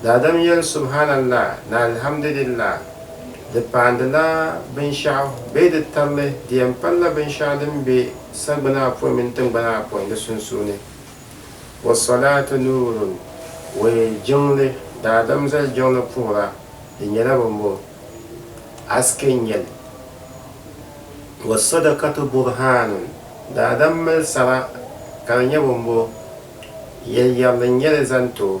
Daadam yɛli Subhaanallah ni Alhamdulillah, di paandila binshɛɣu bee di tirili, di yɛn palila binshɛɣu din be sagbana apoin mini tiŋgbana apoin di sunsuuni. Wassalaatu nuurun, wee jiŋli, daadam zali jiŋli puhira, di nyɛla bimbo, haske n-nyɛli. Wassadakatu burhaanun, daadam mali sara ka di nyɛ bimbo, yɛliyɛrili n-nyɛli zani ti o.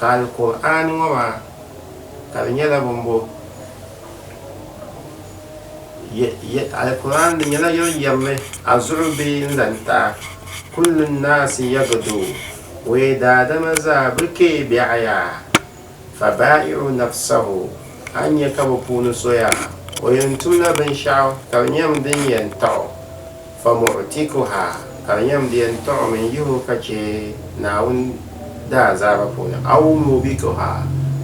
Ka Alkur'aani ŋɔ maa ka di nyɛla bimbo ye, Alkur'aani di nyɛla yɛl yɛrli a zuɣu bee n zani taɣa, kullu nnaasi yagidu, wee daadama zaa bɛ kpe biɛɣu yaa, fa baa'i'u nafsahu, a ni nya ka bɛ puuni so yaa o yɛn tumla binshɛɣu ka di nyɛm din yɛn taɣ o, Famu'tikuha, ka di yɛn beni tɔɣu mini yihibu ka chɛ Naawuni daazaaba puuni, aw mubikuha,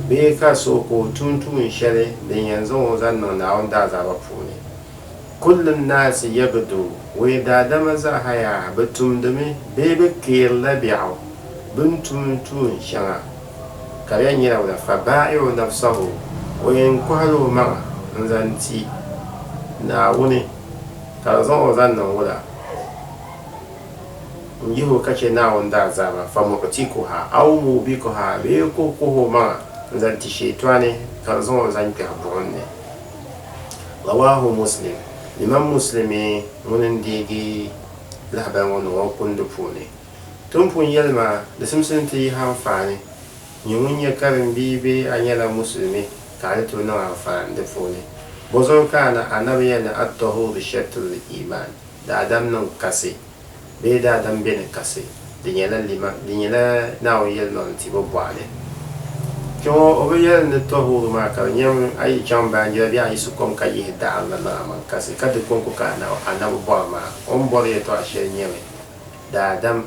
bee ka so ka o tum tuun shɛli din yɛn zaŋ o zaŋ niŋ Naawuni daazaaba puuni. Kulli nnaasi yabdu, wee daadama zaɣiya bɛ tumdimi bee bɛ kpeerila biɛɣu bɛ ni tum tuun shɛŋa, ka di yɛn nyɛla wula, fa baa'i'u nafsahu, o yɛn kɔhila o maŋa n-zaŋ ti Naawuni. Ka di zaŋ o zaŋ niŋ wula? N-yihi o ka chɛ Naawuni daazaaba, famu'tikuha, aw mu'bikuha, bee ka o kuhi o maŋa n-zaŋ ti Shɛyitɔɣuni ka di zaŋ o zaŋ kpɛhi buɣim ni. Rawaahu Muslim, Imam Muslimi ŋuni n-deegi lahibali ŋɔ niŋ o kundi puuni. Ti ni pun yɛli maa, di simsi ni ti yihi anfaani. Nyɛ ŋun nyɛ karim bia bee a nyɛla musulimi ka a ni tooi niŋ anfaani di puuni. Bɔzuɣu ka a ni anabiya ni At-Tahur Shatr al-Iman, daadam niŋ kasi bee daadam be ni kasi, di nyɛla lima, di nyɛla Naawuni yɛlimaŋli tibo bɔɣu ni. Kpɛŋɔ o bi yɛli ni Tahur maa ka di nyɛmi a yi chaŋ baanjira bee a yiɣisi kom ka yihi daɣiri la niŋ amaŋ kasi ka di kɔŋko ka a ni anabi bɔri maa, o ni bɔri yɛtɔɣa shɛli nyɛmi, daadam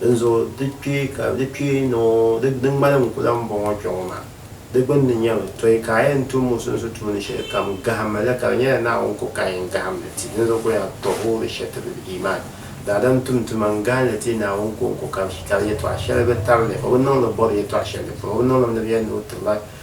Dinzuɣu di kpee ka di kpee ni o, di, di ŋmani n ku lan bɔŋɔ kpe ŋɔ maa. Di gbinni nyɛ mi, Tɔi ka a yɛn tum musunsu tuuni shɛli kam, gahim ma li, ka di nyɛla Naawuni ku ka yɛn gahim li ti, dinzuɣu ku yaa tɔhuri shɛtibili, iimaan, daadam tum tuma n-gahim li ti Naawuni ka o ku ka, ka di yɛtɔɣ shɛli bi tabili, o bi niŋ li bɔri yɛtɔɣ shɛli di puuni, o bi niŋ li ni bɛ yɛn ni o tiri ba.